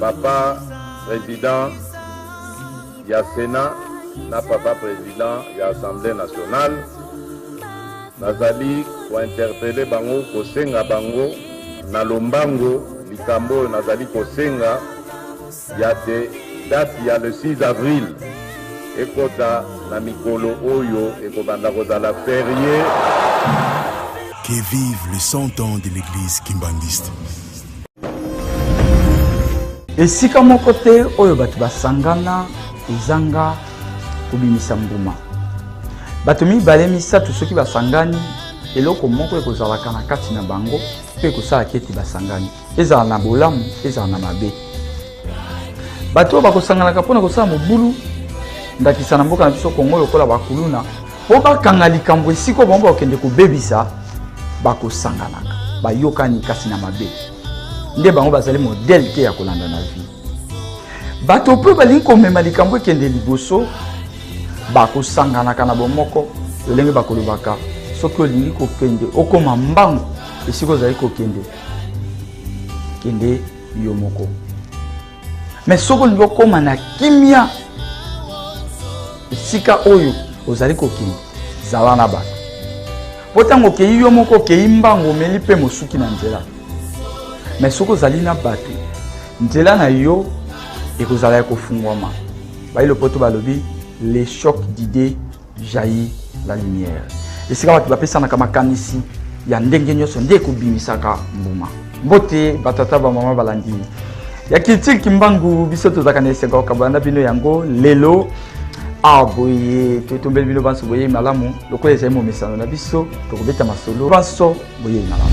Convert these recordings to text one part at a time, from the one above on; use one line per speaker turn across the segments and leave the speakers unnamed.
papa président ya sénat na papa président ya assemblée nationale nazali kointerpele bango kosenga bango na lombango likambo oyo nazali kosenga ya te date ya le 6 avril ekota na mikolo oyo ekobanda kozala ferie
Que vive le 100 ans de l'église kimbanguiste.
esika moko te oyo bato basangana ezanga kobimisa mbuma bato mibale misato soki basangani eloko moko ekozalaka na kati na bango mpe ekosalaka ete basangani ezala na bolamu ezala na mabe bato oyo bakosanganaka mpo na kosala mobulu ndakisa na mboka na biso kongo lokola bakuluna mpo bakanga likambo esika oyo bango bakokende kobebisa bakosanganaka bayokani kasi na mabe nde bango bazali modele te ya kolanda na vie bato mpe balingi komema likambo ekende liboso bakosanganaka na bomoko lolenge bakolobaka soki olingi kokende okoma mbangu esika ozali kokende kende yo moko me soki olingi okóma na kimia esika oyo ozali kokende zala na bato mpo ntango okei yo moko okei mbango omeli mpe mosuki na nzela me soki ozali na bato nzela na yo ekozala ya kofungwama bayi lopoto balobi le choc d'idée Jaillit la lumière. Esika bato bapesanaka makanisi ya ndenge nyonso nde ekobimisaka mbuma. Mbote batata bamama balandi ya kiltile kimbangu biso tozalaka na esengo kokabola na bino yango lelo awa boye totombeli bino banso boyei malamu lokola ezali momesano na biso tokobeta masolo banso boyei malamu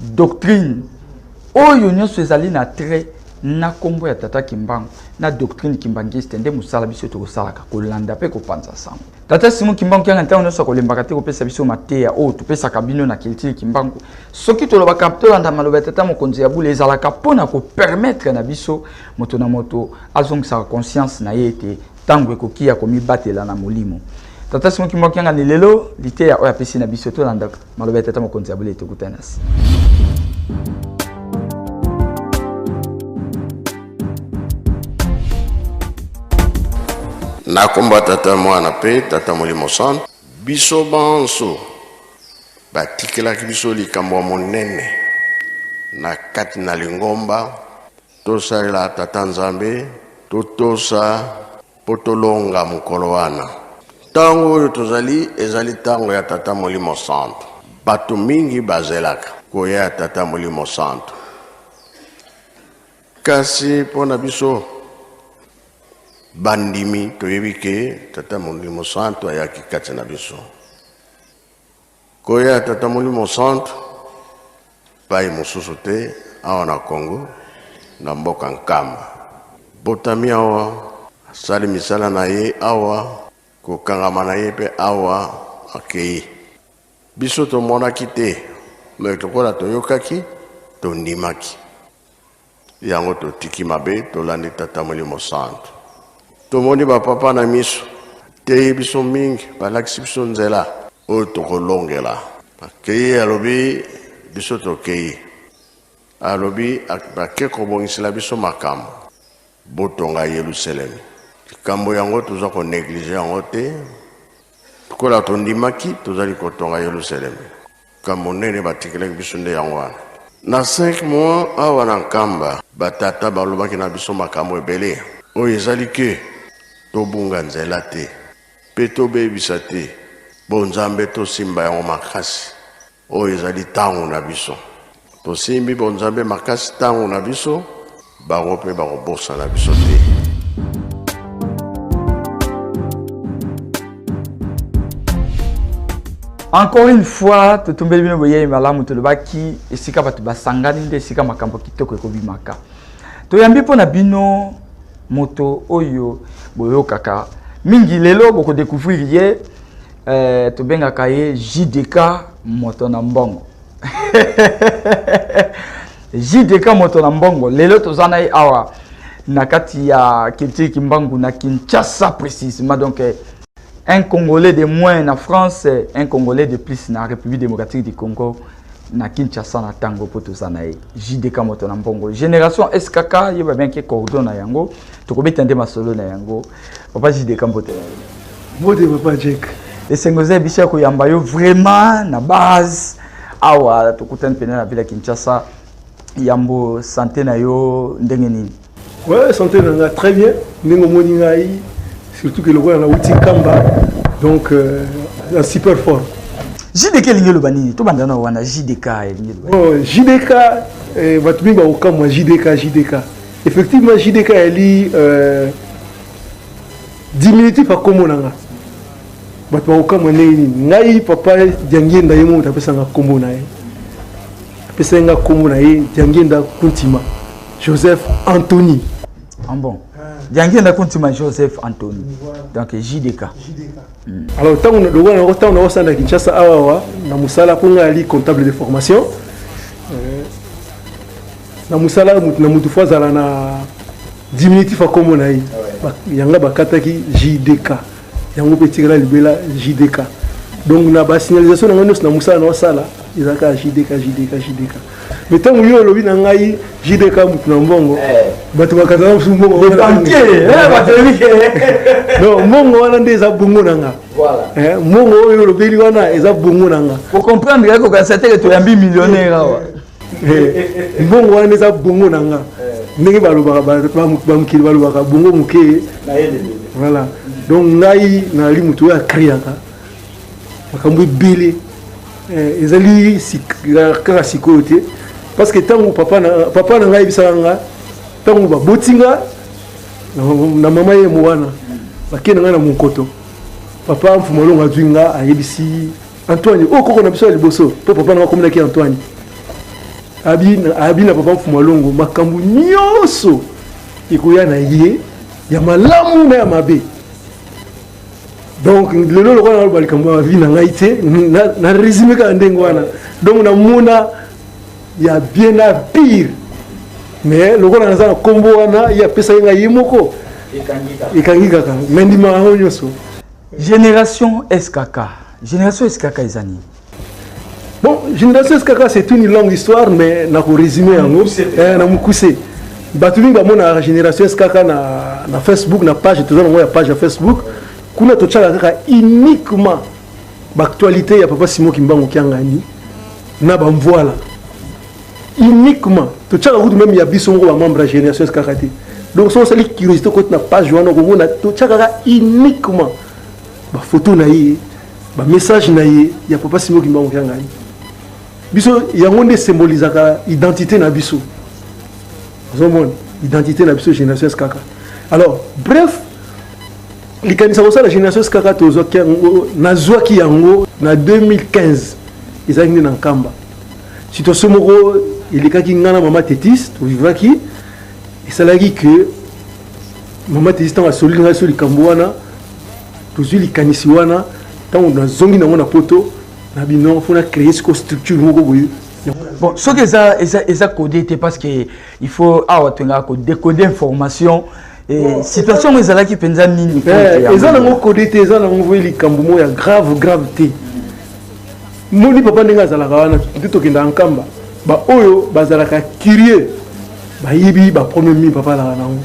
Doctrine oyo nionso ezali na trait na kombo ya Tata Kimbangu na doctrine kimbanguiste nde mosala biso tokosalaka kolanda mpe kopanza sango. Tata Simon Kimbangu Kianga ntango nyonso akolembaka te kopesa biso mateya oyo topesaka bino na culture Kimbangu. Soki tolobaka tolanda maloba ya tata mokonzi ya bule ezalaka mpo na kopermettre na biso moto na moto azongisaka conscience na ye ete ntango ekoki ya komibatela na molimo. Tata Simon Kimbangu Kianga ni lelo liteya oyo apesi na biso tolandaka. Maloba ya tata mokonzi ya bule tokuta nasi.
nakomba tata mwana mpe tata molimo santu biso banso batikelaki biso likambo ya monene na kati na lingomba Tosalela Tata Nzambe, totosa mpo tolonga mokolo wana. Ntango oyo tozali ezali ntango ya Tata Molimo Santu. Bato mingi bazelaka koya ya Tata Molimo Santu. Kasi mpo na biso bandimi, toyebi ke Tata Molimo Santu ayaki kati na biso. Nkoi ya Tata Molimo Santu, epai mosusu te awa na Congo, na mboka Nkamba. Abotami awa, asali misala na ye awa, kokangama na ye mpe awa akei. Biso tomonaki te, me lokola toyokaki, tondimaki. Yango totiki mabe, tolandi Tata Molimo Santu. Tomoni ba papa na miso, teyi biso mingi, balakisi biso nzela oyo tokolongela. Akeyi alobi biso tokeyi, alobi ake kobongisela biso makambo, botonga Yeluselemi. Likambo yango toza ko negliger yango te, lokola tondimaki tozali kotonga Yeluselemi. Likambo monene batikelaki biso nde yango wana. Na cinq mois, awa na Nkamba, ba tata balobaki na biso makambo ebele. Oyo ezali que tobunga nzela te mpe tobebisa te bonzambe, tosimba yango makasi. Oyo ezali tango na biso. Tosimbi bonzambe makasi ntango na biso, bango mpe bakobosana biso te.
encore une fois totumbeli bino boyei malamu tolobaki esika bato basangani nde esika makambo kitoko ekobimaka toyambi mpo na bino moto oyo boyokaka mingi lelo bokodecouvrir ye eh, tobengaka ye jdk moto na mbongo JDK moto na mbongo lelo toza na ye awa na kati ya culture kimbangu na Kinshasa précisément donc eh, un Congolais de moins na France eh, un Congolais de plus na République démocratique du Congo na Kinshasa na tango mpo toza na ye JDK moto na mbongo génération SKK yeba bien ke cordon na yango tokobeta nde masolo na yango papa jideka mbote na yo mbote papa
jek esengo eza biso ya
koyamba yo vraiment na base awa tokutani mpena na ville ya kinshasa yambo sante na yo ndenge nini ouais, sante na
nga très bien ndenge omoni ngai surtout ke lokola nauti kamba donc euh, na super fort jdk elingi
eloba nini tobanda na wana jdk elingi eloba jdk oh,
eh, bato mingi bakokamwa jdk jdk Effectivement JDK yali euh, diminutif ya nkombo na nga bato bakokamwa ndenge nini ngai papa diangienda ye moto apesanga nkombo na ye apesaki nga nkombo na ye diangienda kuntima joseph antony ah bon
diangienda kuntima joseph antony donc jdk Alors
tango na dogo na tango na osa na Kinshasa awa wa na musala ko nga ali comptable de formation. Euh, na musala mutu na mutu fazala na diminutif ya kombo na ye yanga bakataki jdk yango mpe etikala libela jdk donc na basignalisation na ngai nyonso na mosala na osala ezalaka jdk jdk jdk Mais tant que yo lobi na ngai JDK mutu na mbongo bato bakata na musu mbongo donc mbongo wana nde eza bongo na nga mbongo oyo olobeli wana eza bongo na nga ocomprendre yako
kanisa teke toyambi millionnaire awa
mbongo wana nde eza bongo na nga ndenge balobaka bamokili balobaka bongo moke voilà donc ngai nalali motu oyo akriaka makambo ebele eh, ezali kaka sikoyo te parce que ntango papa na, papa na ngai ayebisaka nga ntango baboti nga na, na mama ye mowana bakei na ngai na monkoto papa mfumalongo azwi nga ayebisi antoine oyo oh, koko na biso ya liboso mpo papa na nga akomelaki antoine abi na papa mfumalongo makambo nyonso ekoya na ye ya malamu na ya mabe donc lelo lokola naloba likambo ya vie na ngai te na résumé kaka ndenge wana donc namona ya bien na pire mais lokola naza na nkombo wana ye apesaki ngai ye moko ekangi kaka me ndima yango nyonso génération
skk génération skk eza nini
Bon, génération SKK c'est une longue histoire mais na ko résumer yango eh, na mukuse. Bato mingi bamonaka génération SKK na, na Facebook na page toza nango ya page ya Facebook kuna totyaka kaka uniquement baactualité ya papa Simon Kimbangu Kiangani na bamvuala uniquement totyaka kutu meme ya biso moko bamembre ya génération SKK te donc soki osali curiosité okoti na page wana okomona totyaka kaka uniquement bafoto na ye bamessage na ye ya papa simo kimbangu kya ngai biso yango nde esymbolizaka identité na biso ozomona identité na biso génération skaka alors bref likanisa kosala génération skaka tozwaki yango nazwaki yango na 2015 ezalaki nde na nkamba situation moko elekaki ngai na mama tetis tovivaki esalaki que mama tetis ntango asoli ngai so likambo wana tozwi likanisi wana ntango nazongi nango na poto na bino mpo na créer siko structure moko boye bon soki
eza eza eza code te parce que il faut awa tolingaka ko décoder information eh, situation yango ezalaki mpenza nini eh, eza nango code
te eza nango voye likambo moko ya grave grave te moni papa ndenge azalaka wana nde tokendaka nkamba baoyo bazalaka curie bayibi bapremier mi papa alaka nango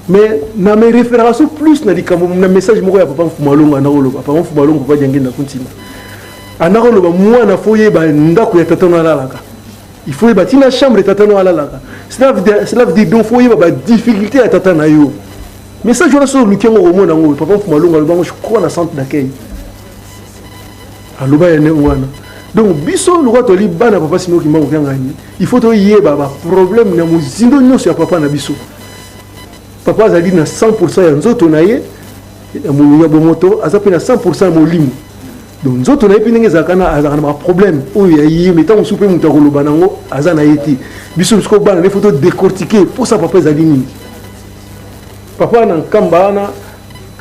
mais na me referaka so plus na likambo na message moko ya papa mfumalongo anakoloba papa mfumalongo papa diange ndako ntina anakoloba mwana fo yeba ndako ya tata no alalaka il faut yeba ntina chambre tata no alalaka cela veut dire donc fo yeba badifficulté ya tata na yo message wana soki oluki yango okomona yango papa mfumalongo aloba yango jcrois na centre d'accueil aloba ya ndenge wana donc biso lokola toli bana papa simoki mbango kiangani il faut toyeba baproblème na mozindo nyonso ya papa na biso papa azali na 100 ya nzoto na ye ya molimo ya bomoto aza mpe na 100 ya molimo donc nzoto na ye mpe ndenge ezalaka na azalaka na baproblème oyo ya ye me ntango mosusu mpe moto akoloba nango aza na ye te biso misuku bana nde foto décortique mposa papa ezali nini papa na nkamba wana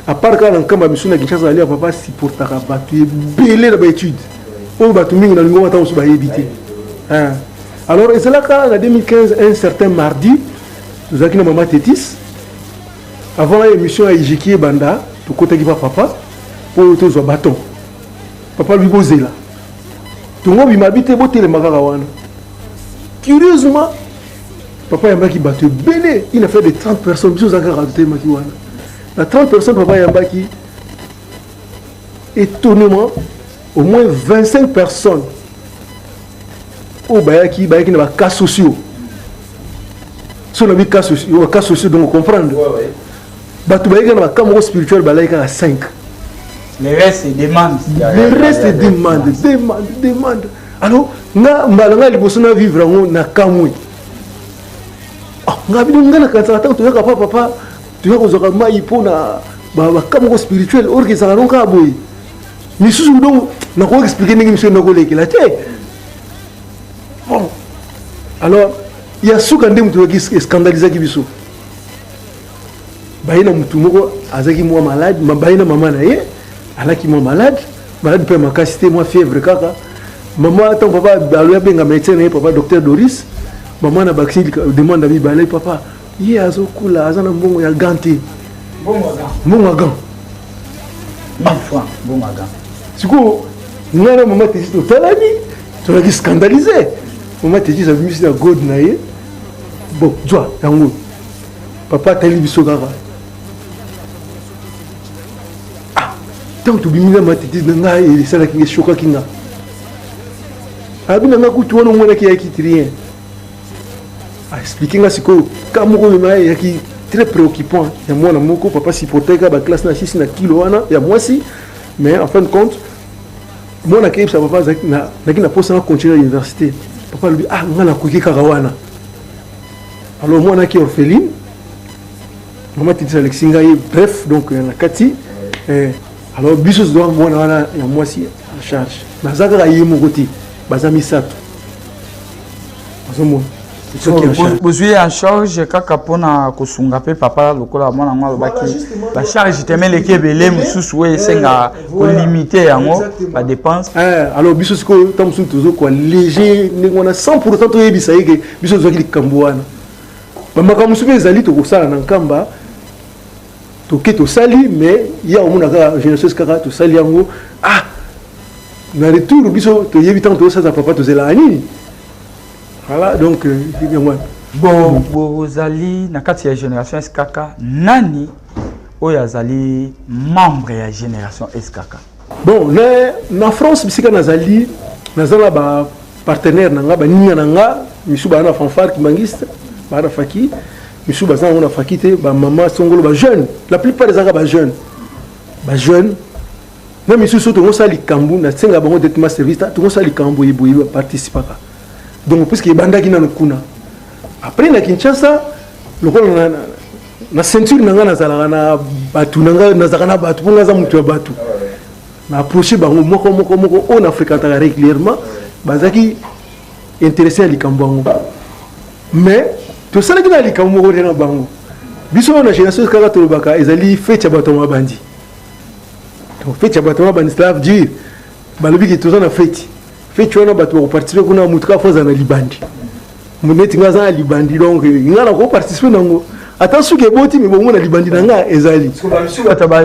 apart kaka na nkamba misu na kinshasa azali ya papa supportaka bato ebele na baétude oyo bato mingi na lingongo ata mosusu bayebi te alors ezalaka na 2015 un certain mardi tozalaki na mama tetis avant émission ya ijiki ebanda tokotaki pa papa mpo tozwa baton papa lobi bozela tongo bimabi te botelema kaka wana curieusement papa ayambaki bato ebele il a fait de 30 personnes biso ozalaka kaka totelemaki wana na 30 personnes papa ayambaki étonnement au moins 25 personnes oyo bayaki bayaki na bacas sociaux so na bicas sociaux donc comprendre bato bayaki na bacas moko spirituel balaki kaka 5 le
reste demande le reste demande demande demande alors nga mbala nga liboso na vivre yango na kamwe ah, nga bino nga nakanisaka ntango toyaka pa papa toyaka kozwaka mai mpo na bacas moko spirituel orke ezalaka nonkaa boye lisusu ndongo nakoki explike ndenge miso ndako olekela te bon alors ya suka nde moto oyaki escandalisaki biso baye na motu moko azalaki mwa malade baye na mama na ye alaki mwa malade malade mpe ya makasi te mwa fièvre kaka mama ntango papa aloya abenga médecin na ye papa docteur doris mama na bakisi demande ya mibale papa ye azokula aza na mbongo ya gan te mbongo ya gan sikoyo
ngai na mama tesi totalani tozalaki scandalise mama tesi abimisi na god na ye bon zwa yango papa atali biso kaka ah, ntango tobimi na matete na ngai esalaki nga eshokaki nga abi na ngai kutu wana omonaki yaki trien a expliquer nga sikoyo ka moko oyo naye yaki très préoccupant ya mwana moko papa sipoteka ba classe na sisi na kilo wana ya mwasi mais en fin de compte mwana akeyebisa papa azalaki na naki na posa na continuer l'université papa alobi ah nga nakoki kaka wana alors mwana aki orpheline mama titisa alekisi ngai bref donc na kati eh, alors biso tozwa mwana wana ya mwasi en charge naza kaka ye moko te baza misato bozwi
ye en charge kaka mpona kosunga mpe papa lokola mwana yango alobaki bacharge teme eleki ebele mosusu oyo esenga kolimite yango badepense alors biso sikoyo
ntango mosusu tozokwa léger ndenge wana 100 pourtant toyebisa ye ke biso tozwaki likambo wana bamakambo mosusu mpe ezali tokosala na nkamba toke tosali mais ye akomona kaka genesis kaka tosali yango ah na retour biso toyebi ntango tozosalisa papa tozelaka nini voilà donc euh, yango bon bozali
na kati ya génération skk nani oyo azali membre ya génération skk Bon, na,
na France bisika nazali naza na ba partenaire na nga baninga na nga misu baa na fanfare kimangiste baa na faki misu baza yango na faki te bamama songolo bajeune la plupart ezalaka bajeune bajeune na misusu tokosala likambo nasenga bango directement service ta tokosala likambo boye boye baparticipaka donc puiske ebandaki nano kuna après na kinshasa lokola na ceinture na ngai nazalaka na bato na ngai nazalaka na bato mpo ngai aza moto ya bato na approche bango moko moko moko oyo na fréquentaka régulièrement bazalaki intéressé ya likambo yango mais tosalaki na likambo moko te na bango biso oyo na génération kaka tolobaka ezali fete ya bato ya mabandi donc fete ya bato ya mabandi cela veut dire balobi ke toza na feti feti wana bato bakoparticipe kuna moto kaka fo azala na libandi neti nga aza na libandi donc nga nako participe nango ata suki eboti mibongo na libandi na nga ezali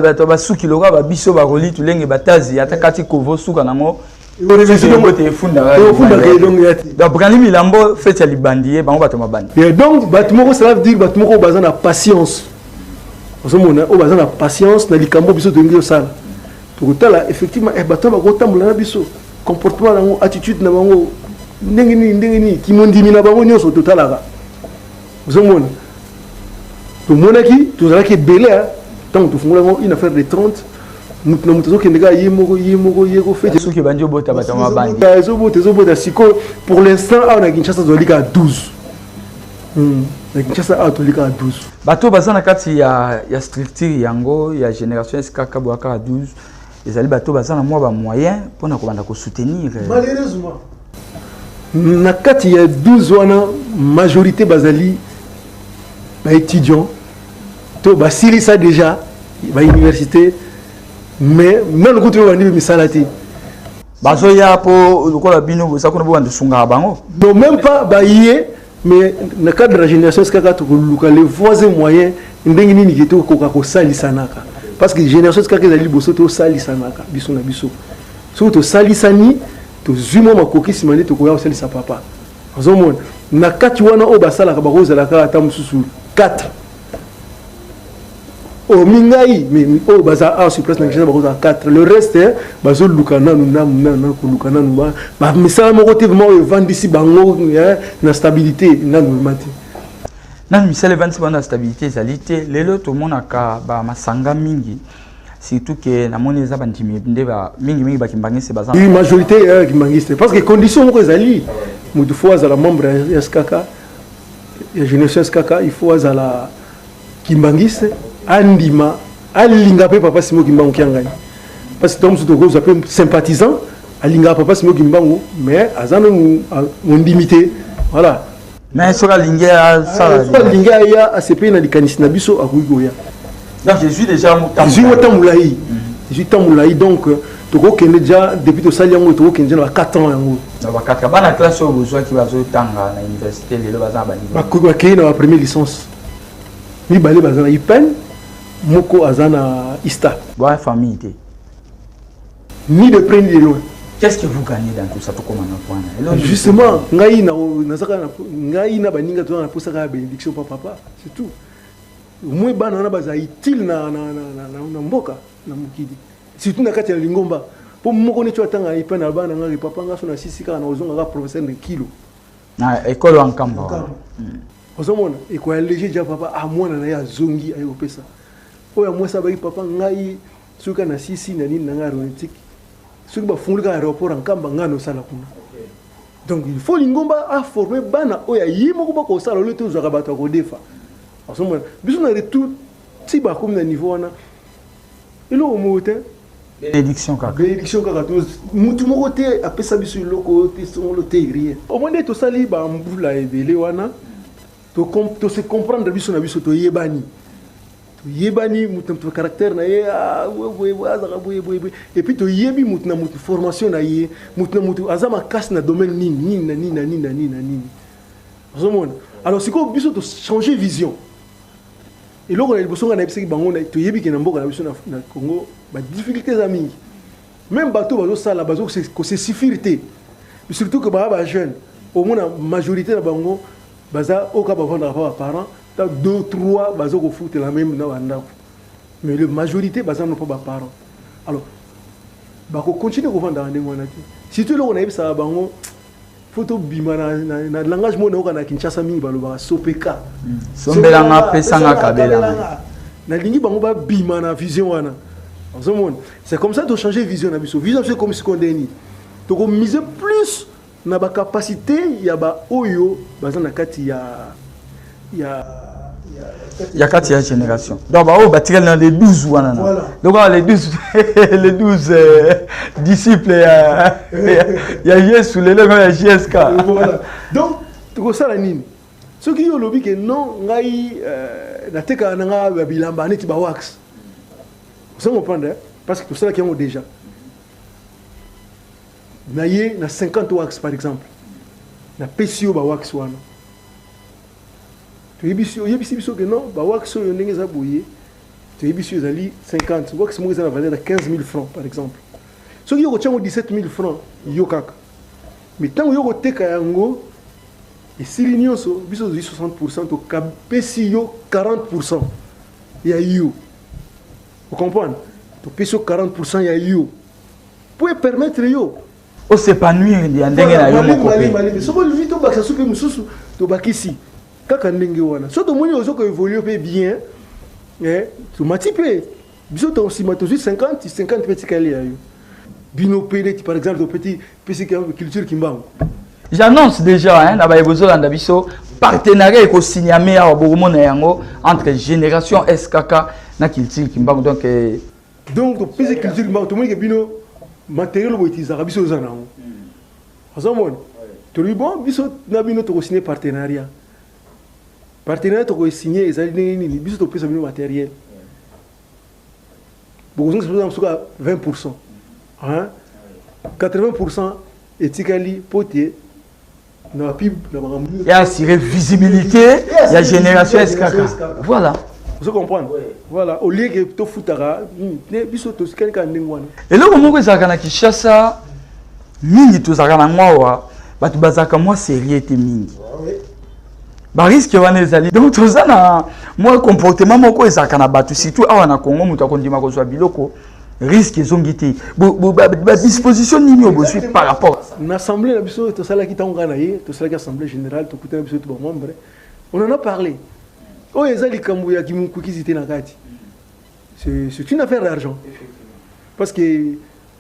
bato
basuki lokola babiso bakoli tulenge batazi ata kati kovo suka nango brani milambo
feti ya libandi ye bango bato mabandi donc bato moko cela veut dire bato moko baza na patience ozomona oyo baza na patience na likambo biso tolingi tosala tokotala effectivement eh, bato bakoki kotambola na biso comportement na bango attitude na bango ndenge nini ndenge nini kimondimi na bango nyonso totalaka ozomona tomonaki tozalaki ebele ntango tofungula yango une affaire de 30 moto na moto azokende kaka ye moko ye moko ye kofetesoki ebandi obota bato
mabandi ezobota ezobota sikoyo
pour l'instant awa na kinshasa tozali kaka 12 Hmm. na kinshasa awa toli kaka 12 bato baza na kati
ya, ya structure yango ya génération skk boya kaka 12 ezali bato baza na mwa bamoyen mpo na kobanda kosoutenir eh.
malheureusement na kati ya 12 wana majorité bazali baétudiant to basilisa déjà bauniversité mais nano kutu oyo bandi misala te bazoya
mpo lokola bino boza kuna bobanda esungaka bango non même pas
baye mais na cadre ya génération sikaka tokoluka le voies moyen ndenge nini ke tokoka kosalisanaka parce que génération sikaka ezali liboso tosalisanaka biso na biso soki tosalisani tozwi mwa makoki nsima nde tokoya kosalisa papa ozomona na kati wana oyo basalaka bakozala kaka ata mosusu 4 oyo mingai oyo oh, baza awa sur place na kinshasa bakozala 4 le reste eh, bazoluka nanu namu nanu koluka nanu bamisala moko te vraimen oyo evandisi bango eh, na stabilité nanu vraimen te nanu
misala evandisi bango na stabilité ezali te lelo tomonaka bamasanga mingi surtout ke namoni eza bandimi nde mingimingi bakimbangiste baza majorité ya eh,
kimbangiste parce que condition moko ezali motu fo azala membre ya skk ya generations kaka il faut azala kimbangiste andima alinga mpe papa simo kimbangu kiangani parce que ntango mosusu tokozwa mpe sympathisant alingaka papa simo kimbangu mais aza nanu mondimi te voilà mais soki
alingi asala soki alingi aya asepeli
na likanisi na biso akoki koya Donc je suis
déjà yango temps. Je suis yango temps mulayi. Je suis temps
mulayi donc euh, tokokende deja depuis tosali yango tokokende na ba 4 ans yango na ba 4 bana
classe oyo bozwaki bazotanga na université lelo baza na baniveau bakoki bakei na ba première
licence mibale baza na ipen moko aza na ista boa famille te ni de près ni de loin qu'est-ce que vous gagnez
dans tout ça tokoma na point justement ngai
nazaka ngai na baninga tozala na posaka ya bénédiction pa papa c'est tout Au moins bana wana baza utile na, na, na, na, na, na mboka na mokili surtout na kati ya lingomba mpo moko neti atanga epai na bana ngai papa ngai so nasisi kaka na kozonga kaka professeur de kilo na ekolo
ya nkambo ozomona
ekoya lege ja papa a ah, mwana na ye azongi aye kopesa oyo ya mwasi abaki papa ngai soki kaka nasisi na nini na ngai aronetique soki bafungoli kaka aéroport ya nkamba ngai nosala kuna donc il faut lingomba aforme bana oyo aye moko bakosala olio tozwaka bato ya kodefa Azomona biso na retour ti bakomi na niveau wana eloko moko te benediction
kaka benediction kaka to
mutu moko te apesa biso eloko oyo te songolo te rien omoni nde tosali bambula ebele wana tose comprendre biso na biso toyebani toyebani moto na caractère na ye ah, azaka boyeboyeboye epuis toyebi moto na moto formation na ye moto na moto aza makasi na domaine nini nini na nini na nini na nini na nini ozomona alors sikoyo biso to changer vision eloko na liboso ngai nayebisaki bango toyebi ke na mboka na biso na congo badifficulté eza mingi meme bato bazosala bazo kose suffire te surtout ke baa bajeune omona majorité na bango baza oka bavandaka pa baparent ta deux trois baza kofutela meme na bandako mais le majorité baza no pa baparent alors bakocontinue kovandaka ndenge wana te surtout eloko nayebisaka bango fo tobima na langage moko nayoka na kinshasa mingi balobaka sopeka hmm. sombelanga
pesanga kabelanga nalingi bango
babima na vision wana ozomona c'est comme ça tochange vision na biso vision biso ekomi sikoyo nde nini tokomise plus na bacapacité ya baoyo baza na kati ya
ya kati ya génération donc baoyo batikali na le 12 wana na lokola le 12 le 12 euh, disciple ya, ya, ya yesu lelo eko ya gsk voilà. donc
tokosala nini soki yo olobi ke non ngai euh, natekaka na ngai ya bilamba neti bawax oza comprendre eh? parce que tosalaki yango déjà na ye na 50 wax par exemple napesi yo bawax wana toyebisi oyebisi biso ke non bawax oyo ndenge eza boye toyebisi yo ezali 50 wax moko eza na valeur ya 15 000 francs par exemple soki yo kotya yango 17 000 francs yo kaka mais ntango yo koteka yango esili nyonso biso tozwi 60 pourcent tokapesi yo 40 pourcent ya yo ocomprendre topesi yo 40 pourcent ya yo mpo epermettre yo o s'epanouir
ya ndenge na yo moko pe soki olingi tobakisa
soki mosusu tobakisi kaka ndenge wana soki tomoni ozo ko évolue mpe bien eh, tomati mpe biso to nsima tozwi 50 50 mpe etikali ya yo bino mpe neti par exemple topeti pesi culture kimbangu j'annonce
déjà hein, na baye bozolanda biso partenariat ekosinyame awa bokomona yango entre génération skk na culture kimbangu donc eh, donc topesi culture
mbango tomoni ke bino matériel oyo boutilisaka biso oza nango ozomona tolobi bon biso na bino tokosigne partenariat partenariat tokoesigne ezali ndenge nini biso topesa bino matériel bokozongisa biso soki 20 pourcent 80 pourcent etikali mpo te ya assurer
visibilité ya génération eskaka voilà ozo comprendre
voilà au lieu que tofutaka hmm, biso tosikali kaka ndenge wana eloko moko ezalaka na
kinshasa mingi tozalaka na yango awa bato bazalaka mwa serie te mingi bariske wana ezali donc toza na mwa comportement moko ezalaka na bato surtout awa na congo moto akondima kozwa biloko risque ezongi te badisposition nini oyo bozwi par rapport na assemblée na biso
tosalaki ntango ngai na ye tosalaki assemblée générale tokutana biso to bamembre on en a parlé oyo eza likambo ya kimokokisi te na kati c'est une affaire d'argent parce que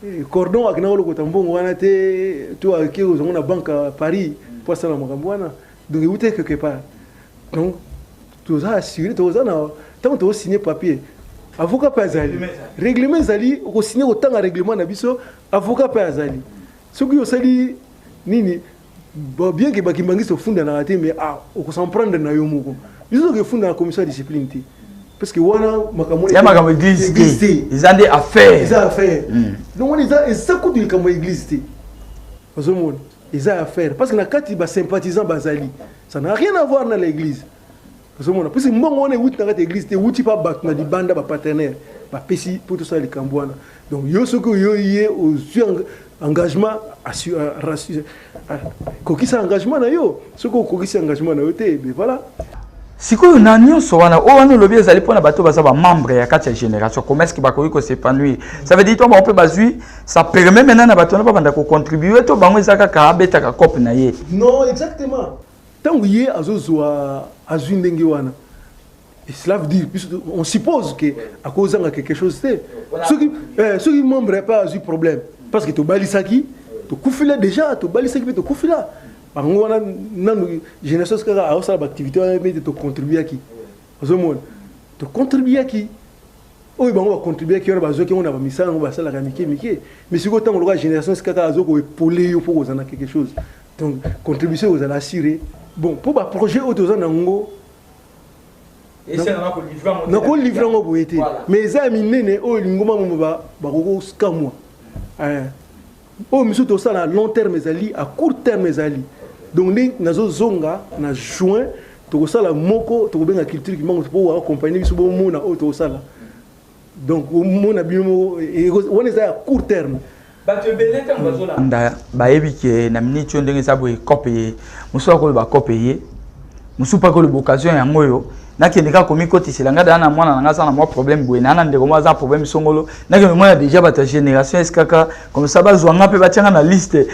eh, cordon akenda kolokota mbongo wana te to ake ozango na banque à paris mpo asala makambo wana donc euta quelque part donc toza assuré toza na ntango tokosigne papier avocat mpe azali règlement ezali okosigne kotanga règlement na biso avocat mpe azali soki osali nini bien ke bakimbangisi ofundanaka te mais ah, okosemprendre na yo moko biso soki efunda na commission ya discipline te parce que wana makambo ya makambo église
te eza nde affaire eza affaire hmm. donc wana
eza eza kutu likambo ya église te ozomona eza affaire parce que na kati basympathisant bazali ça n'a rien à voir na la église ozomona mposi mbongo wana ewuti na kati ya église te ewuti mpa bato na libanda bapartenaire bapesi mpo tosala likambo wana donc yo soki oyoyi ye ozwi engagement kokisa engagement na yo soki okokisi engagement na yo te be voilà sikoyo na
nyonso wana oyo wana olobi ezali mpo na bato baza bamembre ya kati ya génération commerce bakoki kosepanouir ça veut dire to bango mpe bazwi ça permet maintenant na bato wana babanda kocontribue to bango eza kaka abetaka cope na ye non exactement
ntango ye azozwa azwi ndenge wana cela veut dire puisque on suppose que akozanga quelque chose te soki eh, soki membre ya mpe azwi problème parce que tobalisaki tokufila déjà tobalisaki mpe tokufila bango wana nanu génération kaka aosala baactivité wana mpe te tocontribuaki ozomona tocontribuaki oyo bango bacontribuaki wana bazwaki yango na bamisala yango basalaka ya mike mike mi sikoyo ntango lokola génération sikaka azo koepole yo mpo kozala na quelque chose donc contribution ekozala assure bon mpo baprojet oyo toza na yango nakolivre yango boye te mais eza ya minene oyo lingomba momo bakokokamwa oyo misusu tosala long terme ezali a court terme ezali donc nde nazozonga na juin tokosala moko tokobenga culture kimango mpo waakompagne biso bomona oyo tokosala donc omona bino moko e, e, wana eza ya court terme bato ebele
ntango bazolanda bayebi ke na miniti oyo ndenge eza boye cope ye mosusu akoloba cope ye mosusu mpaka oloba occasion yango oyo nakende kaka komikotisela ngai daa na mwana na ngai aza na mwa problème boye naa na ndeko moko aza na problème songolo nakende komona déjà bato ya génération skk comme ça bazwa ngai mpe batya ngai na liste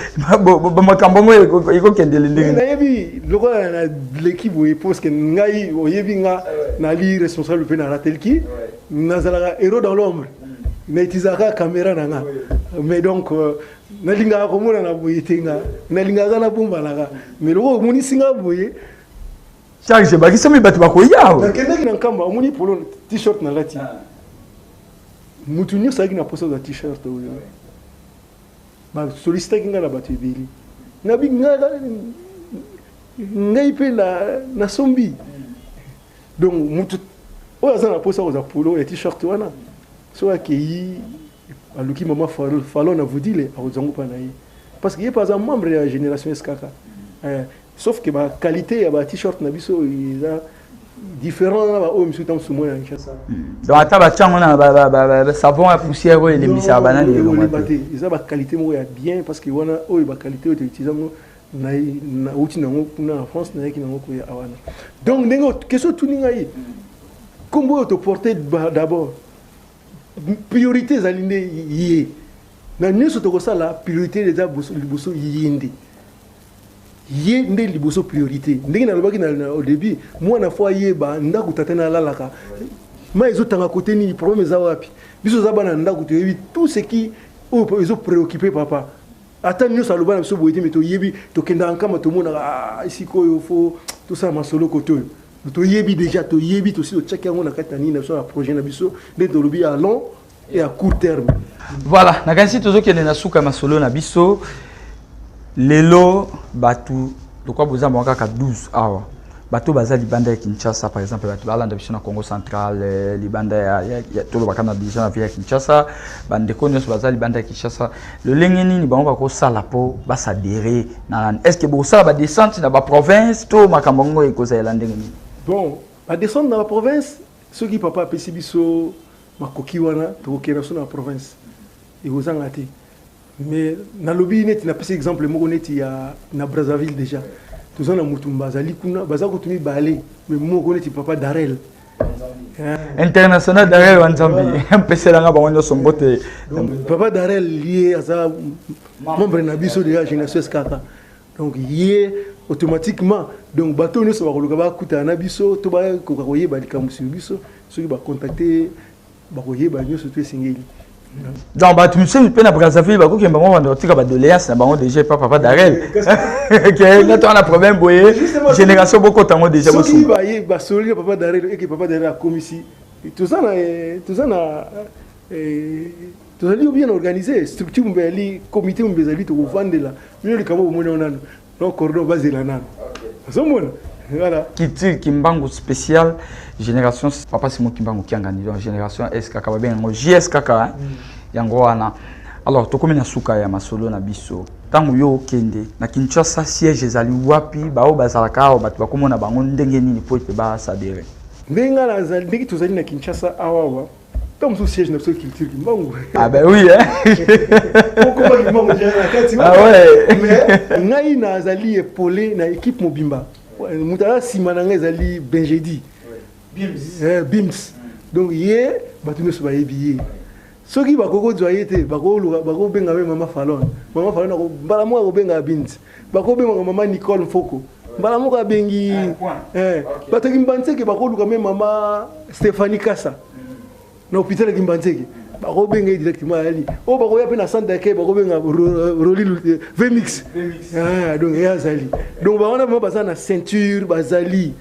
makambo yango ekokendele ndenge nayebi lokola
na leki boye parceke ngai oyebi nga nali responsable mpe na ratelki nazalaka héros dans l'ombre na utilisaka caméra na nga mais donc euh, nalingaka komonana boye te nga nalingaka na bombanaka me lokola omonisi nga boye charge
ebakisami bato bakoya nakendaki na nkamba
omoni polo t-shirt nalati ah. motu nyonso alaki na posa za t-shirt oyo basolisitaki ngai na bato ebele nabi ngai mpe nasombi donc motu oyo aza na posa kozwa polo ya t-shirt wana soki akei aluki mama falon na vudile akozwa ngo mpa na ye parce que ye mpe aza membre ya génération skk eh, sauf que ba qualité ya ba t-shirt na biso eza différent na baoyo mosusu ntango mosusu mwana ya kinshasa hmm. donc ata batya
yango na savon ya poussière oyo elembisaka banani elonga te eza
baqualité moko ya bien parce que wana oyo baqualité oyo toutilize yango nauti nango kuna na france nayaki nango koya awana donc ndenge question otuni ngai nkombo oyo toporte d'abord priorité ezali nde ye na nyonso tokosala priorité eza liboso ye nde ye nde liboso priorité ndenge nalobaki au début mwana fo ayeba ndako tata na alalaka mai ezotanga kote nini problème eza wapi biso oza bana ndako toyebi tout ce qui oyo ezopréoccupe papa ata nyonso aloba na biso boye te me toyebi tokendaka nkama tomonaka ah, esika oyo fo tosala masolo kote oyo toyebi deja toyebi tosi totyaki yango na kati na nini na biso na projet na biso nde tolobi ya long et ya court terme voilà nakanisi
tozokende na suka ya masolo na biso lelo bato lokwa boza mwa kaka 12 awa bato baza libanda ya kinshasa par exemple bato balanda biso na congo central eh, libanda tolobaka na deja na vie ya kinshasa bandeko nyonso baza libanda ya kinshasa lolenge nini bango bakosala mpo basadere na rani est ce que bokosala badescente na baprovince to makambo yango ekozalela ndenge nini bon badescente
na baprovince soki papa apesi biso makoki wana tokokenda so na baprovince ekozanga te mais nalobi neti napesi exemple moko neti ya na brazzaville déjà toza na mutumba azali kuna baza kutu mibale mais moko neti papa darel international
darel wa nzambi mpeselanga bango nyonso mbote papa darel
ye aza membre na biso deja génération eskaka donc ye automatiquement donc bato nyonso bakoluka bakutana na biso to bakoka koyeba likambo sur biso soki bacontacte bakoyeba nyonso to esengeli donc bato
mosusu mpe na brazzaville bakoki bango banda kotika badoléance na bango déjà epa papa darel ke neti wana problème boye génération bokota yango déjà soki baye basololi
na papa darel eke papa darel akomisi toza na eh, toza na eh, tozali bien organisé structure mobali comité mobali ezali tokovandela bino likambo bomoni yango nano non cordon bazela nano ozomona voilà kitile kimbangu
spécial génération papa simo kimbangu kiangani donc génération skk babenga yango jskk hein? mm. yango wana alors tokomi na suka ya masolo na biso ntango yo okende na kinshasa siège ezali wapi baoyo bazalaka awa bato bakomona bango ndenge nini mpo ete basadere ndenge
tozali na kinshasa awawa Tant que siège na biso culture kimbangu. Ah ben oui
hein.
Pourquoi kimbangu je na kati. Ah ouais. Mais
ngai
na azali épolé na équipe mobimba. Mutala sima na ngai ezali Benjedi. Bims. Eh, Bims. Donc ye batu nyonso bayebi ye. soki bakoki kozwa ye te bakobenga mpe mama falon mama falon mbala moko akobenga binti bakobengaka mama nicole mfoko mbala moko abengi ah, eh, bato ya kimbanzeke bakoluka me mama stéphanie kasa na hôpital ya kimbanzeke bakobenga ye directement ayali oyo oh, bakoya mpe na centre d'accueil bakobenga roli eh, vemix ah, donc ye azali donc bawana vraimen baza na ceinture bazali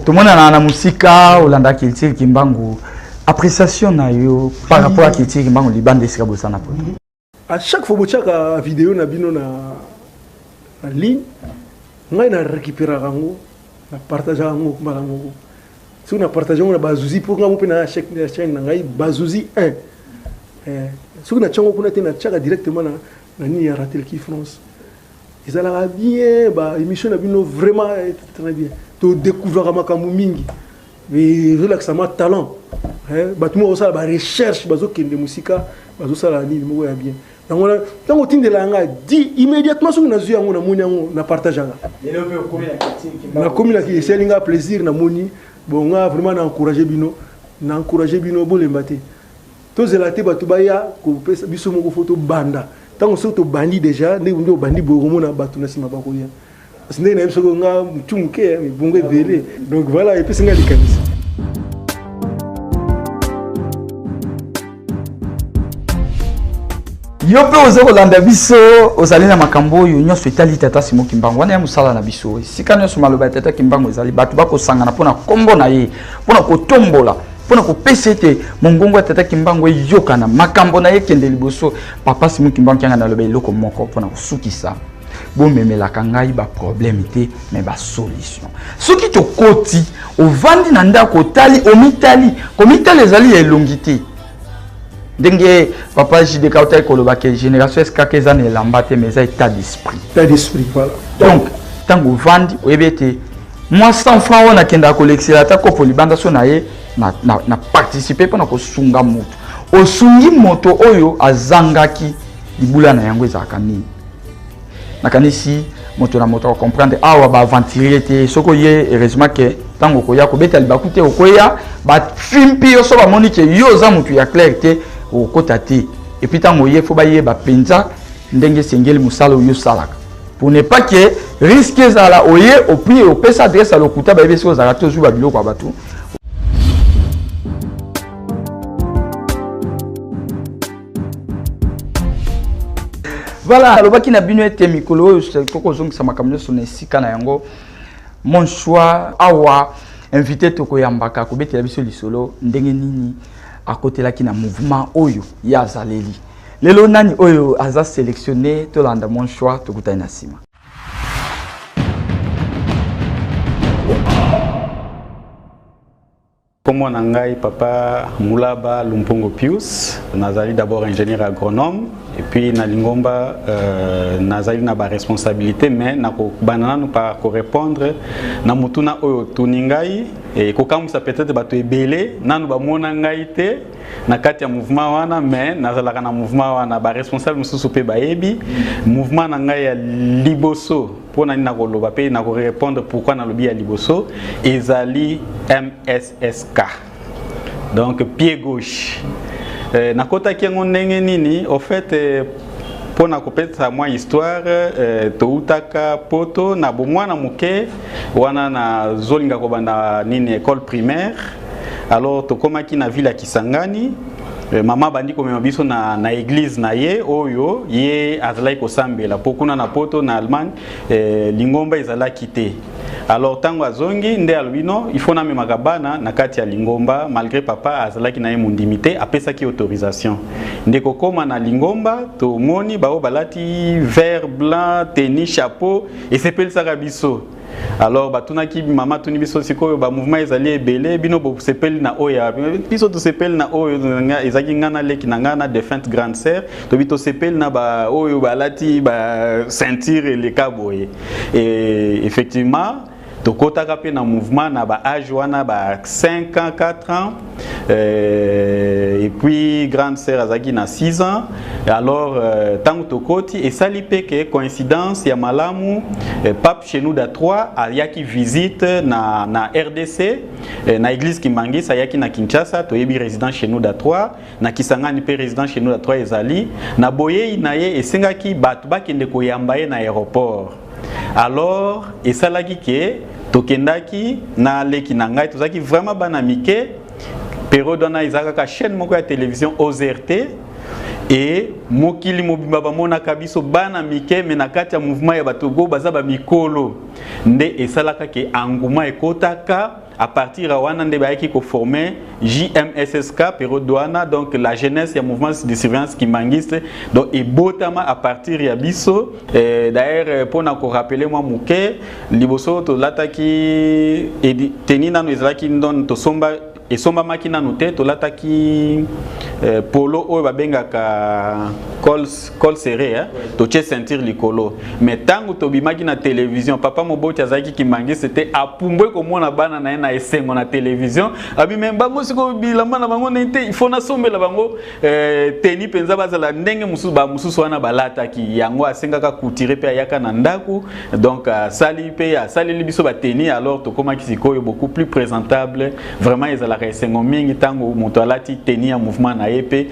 tomonana na
mosika olanda culture kimbangu appréciation na yo par rapport à culture kimbangu libanda esika bosana poto a chaque fois
botyaka video na bino na, na ligne ngai na récupéraka yango na partageaka yango mbala moko soki na partage yango na bazuzi mpo ngai mpe na chaine na ngai bazuzi 1 eh, soki na tyango kuna te na tyaka directement na, na nini ya ratelki france ezalaka bien ba émission na bino vraiment eh, très bien todécouvraka makambo mingi ezolakisa mwa talent bato moko basala barecherche bazokende mosika bazosala nini moko ya bien yango wana ntango otindela yanga di immédiatement soki nazwi yango namoni yango na partage yanga nakomi na esali nga plaisir namoni bon nga vraiment na encourage bino na encourage bino bolemba te tozela te bato baya kopesa biso moko fo tobanda ntango soki tobandi déjà nde obandi boye okomona bato na nsima bakoya Parce ndenge nayebi soko nga mutu moke ya mibongo ebele donc voilà epesi nga likanisi
yo mpe oza kolanda biso ozali na makambo oyo nyonso etali tata simo kimbangu wana ya mosala na biso esika nyonso maloba ya tata kimbangu ezali bato bakosangana mpo na nkombo na ye mpo na kotombola mpo na kopesa ete mongongo ya tata kimbangu eyokana makambo na ye ekende liboso papa simo kimbangu kianga naloba eloko moko mpo na kosukisa bomemelaka ngai baproblème te me basolution soki tokoti ovandi na ndako otali omitali komitali ezali ya elongi te ndenge papa jdk otali koloba ke génération eskaka eza na elamba te mais eza état d'esprit
donc
ntango ovandi oyebi ete mwa 100 franc oyo nakendaka kolekisela ata kopo libanda so na ye na, na, na participe mpo na kosunga moto osungi moto oyo azangaki libula na yango ezalaka nini nakanisi moto na moto acomprendre awa baaventurier te soki oye heureusement ke ntango okoya kobeta libaku te okoya bafimpi yo so bamoni ke yo oza moto ya claire te okokota te epuis ntango oye fo bayeba mpenza ndenge esengeli mosala oyo osalaka pour ne pas ke risque ezala oye opui opesa adresse ya lokuta bayebi soki ozalaka te ozwi babiloko ya bato voilà alobaki na bino ete mikolo oyo tokozongisa makambo nyonso na esika na yango mon choix awa invité tokoyambaka akobetela biso lisolo ndenge nini akotelaki na mouvement oyo ye azaleli lelo nani oyo aza sélectionné tolanda mon choix tokutani na nsima
Kombo na ngai papa Mulaba Lumpongo Pius, nazali d'abord ingénieur agronome et puis na lingomba euh, nazali na ba responsabilité mais nakobanda nanu par korépondre na motuna oyo otuni ngai ekokamwisa peut-être bato ebele nanu bamona ngai te na kati ya mouvement wana mais nazalaka na mouvement wana ba responsable mosusu mpe bayebi mouvement na ngai ya liboso mpo na nini nakoloba mpe nakorepondre pourkui nalobi ya liboso ezali mssk donc pied gauche euh, nakotaki yango ndenge nini au fait euh, mpo na kopesa mwa histoire euh, toutaka poto na bomwana moke wana nazolinga kobanda nini école primaire alors tokomaki na ville ya kisangani Eh, mama abandi komema biso na, na eglise na ye oyo ye azalaki kosambela mpo kuna na poto na allemagne eh, lingomba ezalaki te alors ntango azongi nde alobi no ifo namemaka bana na kati ya lingomba malgré papa azalaki na ye mondimi te apesaki autorisation nde kokóma na lingomba tomoni baoyo balati vert blanc teni chapeau esepelisaka biso alors batunaki mama tuni biso sikoyo ba mouvement ezali ebele bino bosepeli na oyo ya biso tosepeli na oyo ezalaki ngai na leki na ngai na defunte grande sœur tobi tosepeli na baoyo balati ba ceinture eleka boye e effectivement tokotaka mpe na mouvement na ba age wana ba 5 ans 4 ans Euh, et puis grande sœur azalaki na 6 ans alors euh, ntango tokoti esali mpe ke coïncidence ya malamu euh, pape chenuda 3 ayaki visite na, na rdc euh, na église kimangisa ayaki na kinshasa toyebi résident chenuda 3 na kisangani mpe résident chenuda 3 ezali na boyei na ye esengaki bato bakende koyamba ye na aéroport alors esalaki ke tokendaki na leki na ngai tozalaki vraiment bana mike periode wana eza kaka chaîne moko ya télévision OZRT e mokili mobimba bamonaka biso bana mike me na kati ya mouvement ya bato go baza bamikolo nde esalaka ke enguma ekotaka à partir ya wana nde bayaki koforme jmssk pero douana donc la jeunesse ya mouvement de surveillance kimbanguiste donc ebotama à partir ya biso eh, d'ailleurs mpona korapele mwa moke liboso tolataki teni nano ezalaki ndon tosomba esombamaki nano te tolataki eh, polo oyo babengaka cols col serré hein? totie ceinture likolo mais ntango tobimaki na télévision papa moboti azalaki kimangiste te apumbwe komona bana na ye na esengo na télévision abi me bango sikoyo bilamba na bango ndenge te ifo nasombela bango eh, teni mpenza bazala ndenge mosusu bamosusu wana balataki yango asengaka coutire mpe ayaka na ndako donc asali mpe asaleli biso bateni alors tokomaki sikoyo beaucoup plus présentable vraiment ezalaka esengo mingi ntango moto alati teni ya mouvement na ye mpe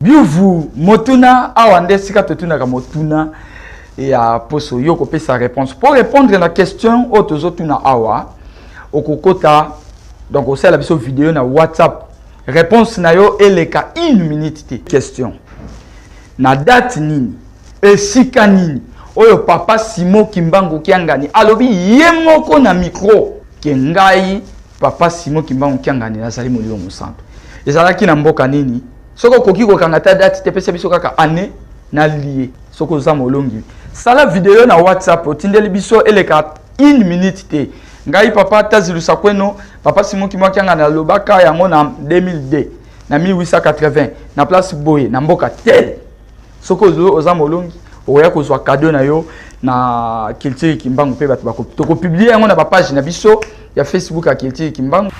Biuvu motuna awa nde esika totunaka motuna ya poso yo kopesa réponse mpo répondre na question oyo tozotuna awa okokota donc osala biso video na whatsapp réponse na yo eleka une minute te question na date nini esika nini oyo papa simo kimbangu kiangani alobi ye moko na micro ke ngai papa simo kimbangu kiangani nazali molimo mosantu ezalaki na mboka nini soki okoki kokanga ata date te pesa biso kaka année na lie soki oza molongi sala video na whatsapp otindeli biso eleka une minute te ngai papa tazilusa kweno papa simoki mwakianga nalobaka yango na 2002 na 1880 na place boye na mboka tel soki oza molongi okoya kozwa kado na yo na culture kimbangu mpe bato tokopiblie yango na bapage na biso ya facebook ya culture kimbangu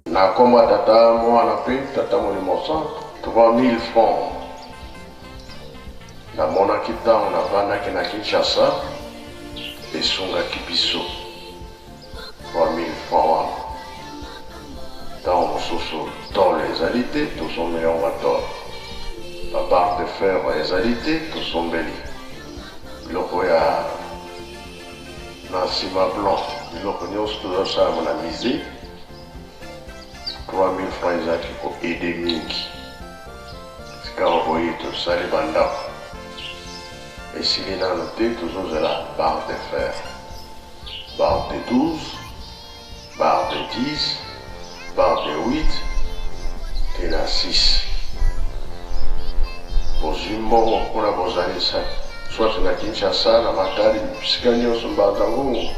nakoma tata mwana mpe tata molimo santo 3000 franc namonaki ntango navandaki na kinshasa esungaki biso 3000 francs wana tango mosusu tole ezali te tosombeli yango ba tole ba barre de fer ezali te tosombeli biloko ya na nsima blanc biloko nyonso tozosala yango na mise 3000 francs ezalaki ko aide mingi sikawa boye tosali bandako esili nano te tozozela barre de fer Barre de 12, barre de 10, barre de 8 tee na 6. Bozwi mbongo mpo na bozalisa soit na Kinshasa, na Matadi, bisika nyonso mbanza ngungu.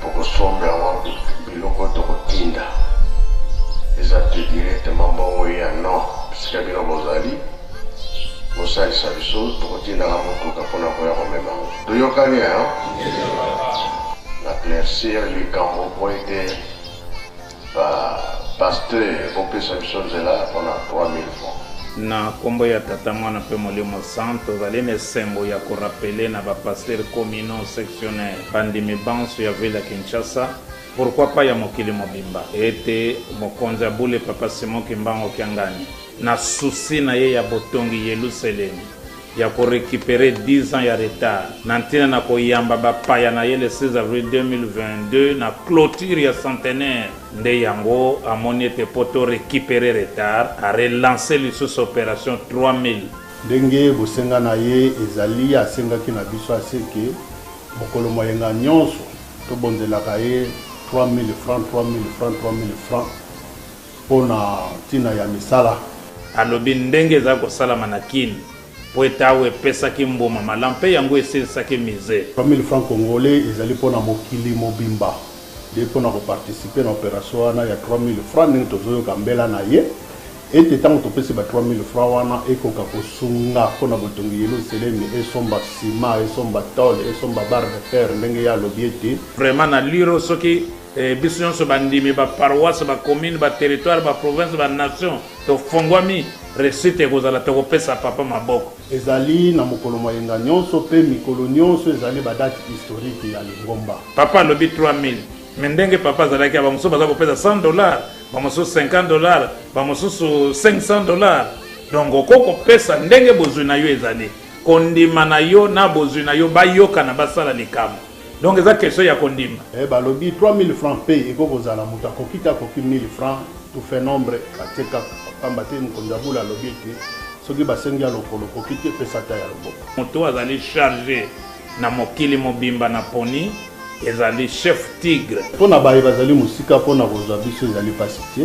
Tokosomba yango biloko oyo tokotinda, eza te directement mbongo ya non bisika bino bozali. Bosalisa biso, tokotindaka motuka mpo na koya komema yango. Toyokani, hein? Naclaircir likambo mpo ete ba pasteur bopesa biso nzela mpo na 3000 francs. Na kombo
ya Tata, Mwana mpe Molimo Santu, tozali na esengo ya ko rappeler na ba pasteurs communaux, sectionnaires, bandimi banso ya ville ya Kinshasa, pourquoi pas ya mokili mobimba, ete Mokonzi ya bule Papa Simon Kimbangu Kiangani, Na souci na ye ya botongi Yeluselemi, ya ko recuperer dix ans ya retard na ntina na koyamba bapaya na ye le 16 avril 2022 na cloture ya centenaire nde yango amoni ete mpo to recuperer retard, a relancer lisusu operation 3000. Ndenge
bosenga na ye ezali, asengaki na biso ase que mokolo mwa yenga nionso tobonzelaka ye 3000 francs, 3000 francs, 3000 francs. Mpo na ntina ya misala. Alobi
ndenge ezali kosalama na Kin mpo ete awa epesaki mbuma malam mpe yango esilisaki mise. 3000 francs congolais
ezali mpo na mokili mobimba nde mpo na ko participer na operation wana ya 3000 francs ndenge tozoyoka mbela na ye ete ntango topesi ba 3000 francs wana ekoka kosunga mpo na botongi Yeluselemi, esomba ciment, esomba tole, esomba barre de fer ndenge ye alobi ete. Vraiment na liro
soki. Ee, biso nyonso bandimi, ba paroisse, ba commune, ba territoire, ba province, ba nation, tofongwami, reussite ekozala, tokopesa Papa maboko. Ezali na mokolo
mwa yenga nyonso mpe mikolo nyonso ezali ba date historique ya lingomba. Papa alobi
3000, mais ndenge Papa azalaki, ba mosusu baza kopesa 100 dollars, ba mosusu 50 dollars, ba mosusu 500 dollars. Donc okoki kopesa ndenge bozwi na yo ezali, kondima na yo na bozwi na yo bayokana, basala likambo. Donc eza question ya kondima. Eh balobi 3000
francs pe eko kozala moto akoki te akoki 1000 francs tout fait nombre batie kaka pamba te mokonzi ya bula alobi ete soki basengi ya lokolo okoki te pesa ata ya loboko. Moto oyo azali
charge na mokili mobimba na poni ezali chef tigre. Mpo na baye bazali
mosika mpo na kozwa biso ezali mpasi te.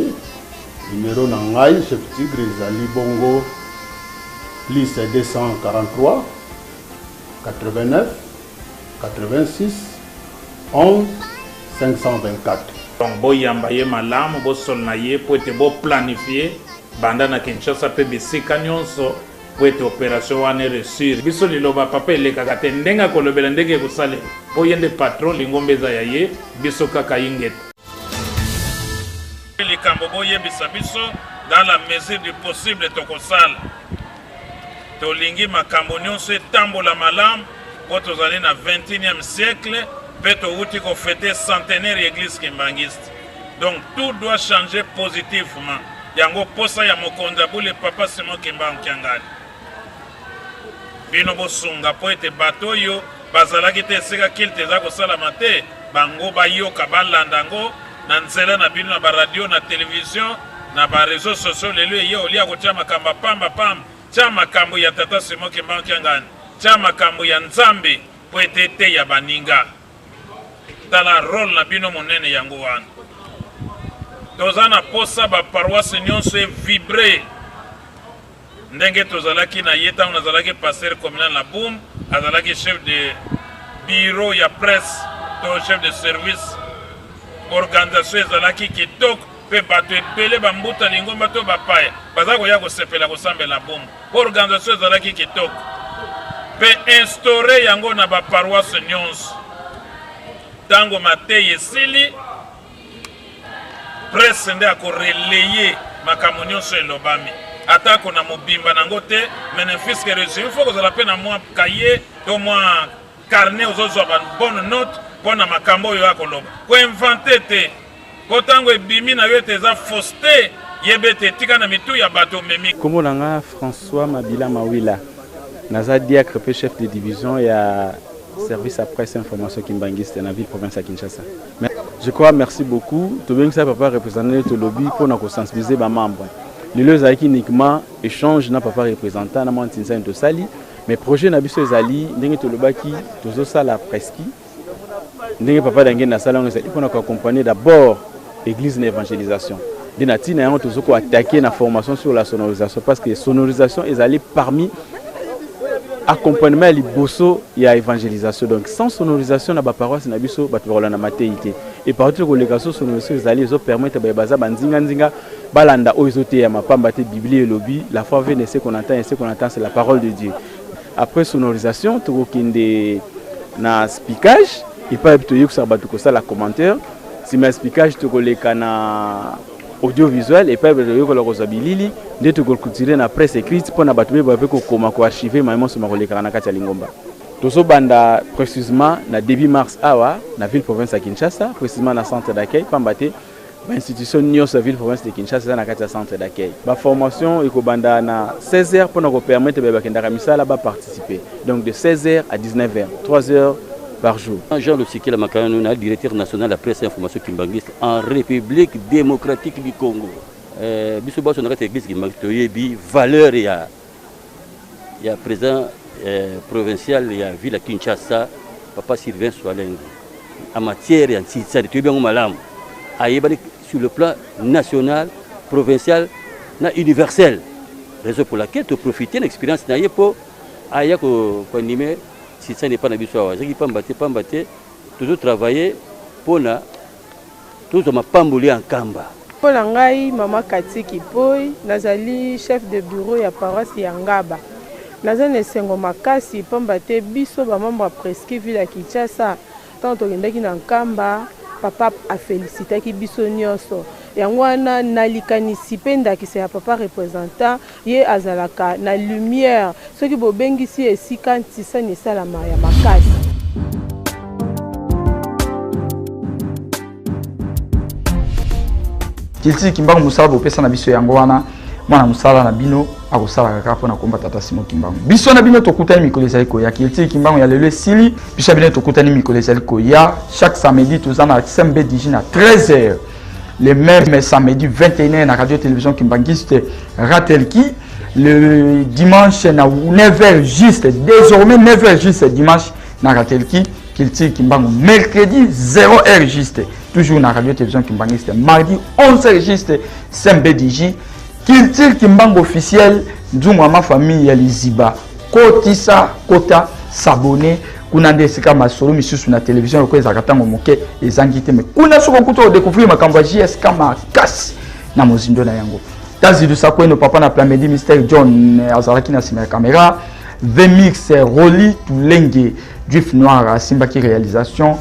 Numero na ngai chef tigre ezali bongo plus 243 89 86 11 524 Donc
boyamba ye malamu, bosolona ye mpo ete bo planifier banda na Kinshasa mpe bisika nionso mpo ete operation wana e reussir. Biso liloba Papa elekaka te, ndenge akolobela ndenge ekosalema mpo ye nde patron, lingomba eza ya ye, biso kaka ingeta. Likambo boyebisa biso dans la mesure du possible tokosala. Tolingi makambo nyonso etambola malamu mpo tozali na 21e siècle mpe towuti ko fete centenaire ya eglise kimbanguiste. Donc tout doit changer positivement. Yango posa ya mokonzi ya bule Papa Simon Kimbangu Kiangani. Bino bosunga mpo ete bato oyo bazalaki te esika kilte eza kosalama te bango bayoka balanda yango na nzela na bino na ba radio na television na ba reseaux sociaux lelo eye olia kotia makambo ya pamba pamba tia makambo ya tata Simon Kimbangu Kiangani tia makambo ya Nzambe mpo ete eteya baninga tala role na bino monene yango wana toza na posa ba paroisse nyonso evibre Ndenge tozalaki na ye ntango nazalaki pasteur communal na Boum, azalaki chef de bureau ya presse to chef de service. Organisation ezalaki kitoko mpe bato ebele bambuta lingomba to bapaya baza koya kosepela kosambela na Boum. Organisation ezalaki kitoko mpe instaure yango na baparoise nyonso. Ntango mateyi esili presse nde ako relayer makambo nyonso elobami atako na mobimba nango te mais ne fils que resume faut kozala mpe na mwa kaye to mwa carnet ozozwa ba bonne note mpo na makambo oyo akoloba koinvente te mpo ntango ebimi na yo ete eza fauste yeba ete etika na mitu ya bato omemi nkombo na nga
françois mabila mawila naza diacre mpe chef de division ya service ya presse information kimbanguiste na ville province ya kinshasa Je crois merci beaucoup tobengisa papa représentant nde tolobi mpo na kosensibiliser bamembre lelo ezalaki uniquement échange na papa représentant na mwa ntinsani tosali mais projet na biso ezali ndenge tolobaki tozosala preski ndenge papa dangenda asala yango ezali mpo na koaccompagner d'abord église na évangélisation Nde na tina yango tozo ko attaquer na formation sur la sonorisation parce que sonorisation ezali parmi accompagnement ya liboso ya évangélisation donc sans sonorisation na baparoisse na biso bato bakolanda mateyi te epartout ekoleka so sonorisation ezali ezopermettre baye baza banzinganzinga balanda oyo ezoteyama mpamba te biblia elobi la foi vene se qu'on entend et se qu'on entend c'est la parole de dieu après sonorisation tokokende na spicage epai toyebisaka bato kosala commentaire Sima ya spikage tokoleka na audiovisuel epai bato bayokola kozwa bilili nde tokokulture na presse écrite mpo na bato beba mpe kokoma koarchive mai monso makolekaka na kati ya lingomba tozobanda précisement na début mars awa na ville province ya kinshasa précisement na centre d'accueil mpamba te bainstitution nyonso ya ville province de kinshasa eza na kati ya centre d'accueil baformation ekobanda na 16 heures mpo na kopermettre baye bakendaka misala baparticipe donc de 16 heures à 19 heures 3 heures par jour. Jean Lusikila Makananu
na directeur national ya presse information kimbanguiste en République démocratique du Congo. Euh, biso baso na kati ya église kimbanguiste toyebi valeur ya ya président euh, provincial ya ville ya Kinshasa papa Sylvain Soalengi en matière ya nsisani toyebi yango malamu ayebani sur le plan national provincial na universel raison pour laquelle toprofite na expérience na ye mpo aya koanime ko Sisani epai na biso awa ezalaki pamba te pamba te tozo travaille mpo na tozwa mapamboli ya nkamba. Mpo na ngai,
Mama Cathy Kipoy, nazali chef de bureau ya paroisse ya Ngaba. Naza na esengo makasi pamba te biso ba membres ya Presqu'Île ville ya Kinshasa, tango tokendaki na Nkamba, Papa a felicitaki biso nionso. Yango wana, na likanisi mpe ndakisa ya Papa representant, Ye azalaka na lumière. Soki bobengisi ye esika ntisani esalama ya makasi.
Kilti Kimbangu mosala bopesa na biso yango wana mwana mosala na bino akosalaka kaka mpo na komba tata Simon Kimbangu. Biso na bino tokutani mikolo ezali koya. Kilti Kimbangu ya lelo esili. Biso na bino tokutani mikolo ezali koya. Chaque samedi toza na SMB Digi na 13h. le même samedi 21 na radio télévision kimbanguiste ratelki le dimanche na 9h juste désormais 9h juste dimanche na ratelki culture kimbangu mercredi 0h juste toujours na radio télévision kimbanguiste mardi 11h juste smbdj culture kimbangu officiel nzungu ya ma famille ya liziba kotisa kota s'abonner kuna nde esika masolo misusu na televizio lokola ezalaka ntango moke ezangi te me kuna soki okuta odecouvrir makambo ya jsk makasi na mozindo na yango tazidusa kweno papa na plamedi mister john eh, azalaki na nsima ya kamera vemix eh, roli tulenge juif noir asimbaki réalisation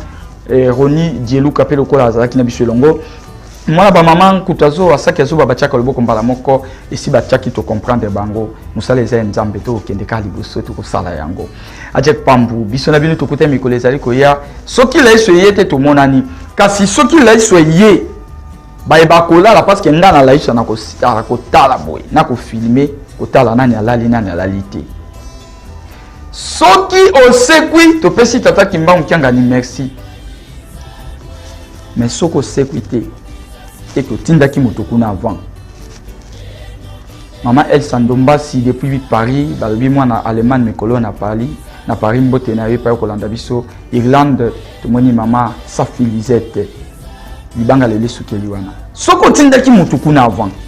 eh, roni dieluka mpe lokola azalaki na biso elongo mwana ba mama nkutu azo asaki azoba batiaka loboko mbala moko esi batiaki tocomprendre bango mosala eza ya nzambe tokokende kaka liboso tokosala yango ajek pambu biso na bino tokuta mikolo ezali koya soki laiso eye te tomonani kasi soki laiso eye baye bakolala parce que ngai na laiso nakosala kotala boye nakofilme kotala nani alali nani alali te soki osekwi topesi tata kimbangu kiangani merci mais soki osekwi te ete otindaki moto kuna avant mama elsa ndombasi depuis paris balobi mwana allemagne mikolo na paris na paris mbote na yo epai okolanda biso irlande tomoni mama safi lisette libanga lelo esukeli wana soki otindaki motu kuna avant